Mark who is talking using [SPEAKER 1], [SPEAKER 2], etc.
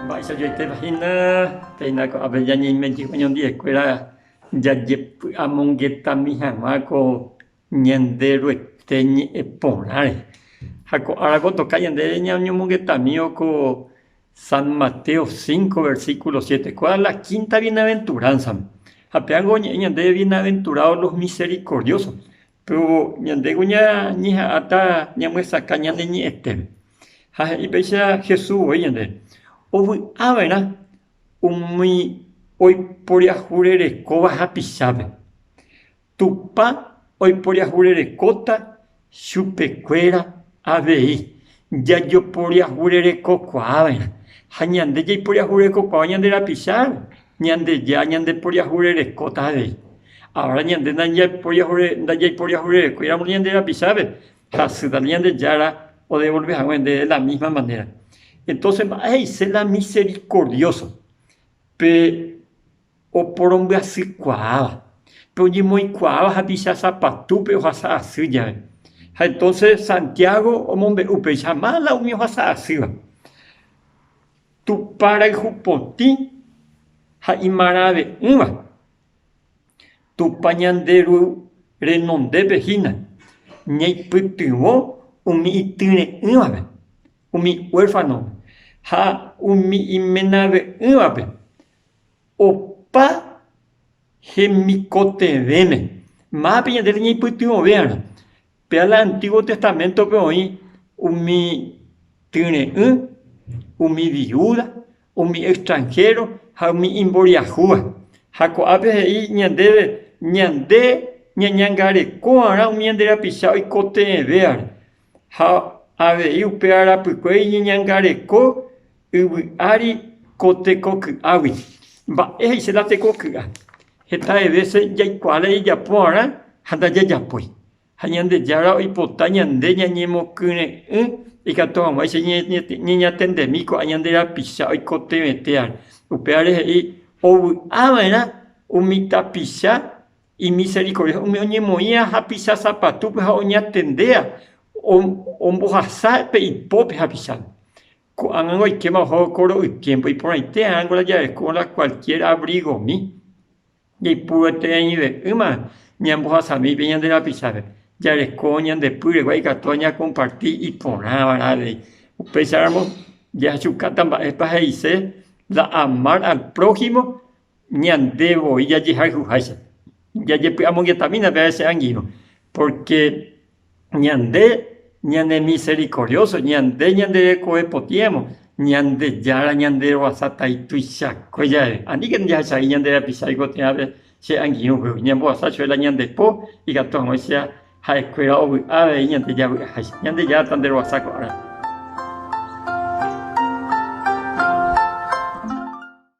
[SPEAKER 1] Mba'eichajoitépa hína péina ko'ápe ñañeime jeývo ñandiekuéra jajepy'amongetami hag̃ua ko Ñanderuete ñe'ẽ porãre. Ha ko árako toka ñande ñañomongetamívo ko San Mateo cinco, versículo siete, kua la quinta bienaventuránsame. Ha péango oñe'ẽ ñande, Bienaventurados los misericordiosos, Péro ñandéko ñañeha'ãta ñamyesakã ñane ñe'ẽtépe. Ha he'i péicha Jesús voi ñande, ovy'a va'erã umi oiporiahu rerekóva hapichápe, Tupã oiporiahu rerekóta chupekuéra avei, Jajoporiahurerekokuaava'erã, ha ñande jaiporiahurekokuaáva ñande rapicháre, Ñandejára ñandeporiahurerekóta avei. Avara ñande ndajaiporiahurerekóiramo ñande rapichápe, hasy tape Ñandejára odevolve hague nde de la mísma manera. Entónse mba'e he'ise la miserikordióso? Pe. Oporombyasýkuaáva, pe oñemoĩkuaáva hapicha sapatúpe ohasa asy jave. Ha entonce Santiago omombe'u upéicha mala umi ohasa asýva. Tupã rayhupotĩ ha imarãve'ỹva, Tupã ñande Ru renondépe hína, ñaipytyvõ umi ityre'ỹvape, umi huérfanope ha umi imenave'ỹvape, Opa hemikotevẽme. Mápe ñande reñeipytyvõvéarõ. Péva la Antigua Testamentope oĩ umi tyre'ỹ, umi viúda, umi extranhéro ha umi imboriahúva. Ha ko'ápe he'i ñandéve ñande ñañangarekova'erã umi ñande rapicha oikotevẽvévare. Ha avei upe arapykue iñeñangareko yvy ári ko tekoky'águi. Mba'e he'ise la tekoky'a? Hetahe vése jaikuaáta jajapo'arã ha ndajajapói. Ha Ñandejára oipota ñande ñañemokyre'ỹ ikatu hag̃uáicha ñañatendemi ko'ã ñande rapicha oikotevẽtéva. Upévare he'i ovy'a va'erã umi tapicha. Imisericordia umi oñemoĩva hapicha sapatúpe ha oñatendéva ombohasa pe ipópe hapichápe. Ko'ág̃a oikéma oho ko ro'ykéngo, iporãite árango la javeku la cualquier abrigomi, jaipuruetereive'ỹma ñambohasami pe ñande rapichápe, jareko ñande pýregua ikatu ñacomparti iporãva la avei. Upéicharamo jajukáta mba'épa he'ise la amar al prójimo. Ñande voi jajehayhuháicha, jajepy'amongetamína pe avese angirõ. Pórke ñande ñanemiserikorióso, ñande ñande rekove potĩramo, Ñandejára ñanderovasatai tuichakue jave. Aníkena jahecha he'i ñande rapichágui ko térãpe che angirũpe, ñambohasa chuela ñande po ikatu aguãicha ha'ekuéra ovy'a avei ñande javy'aháicha. Ñandejára tanderovasa ko árape.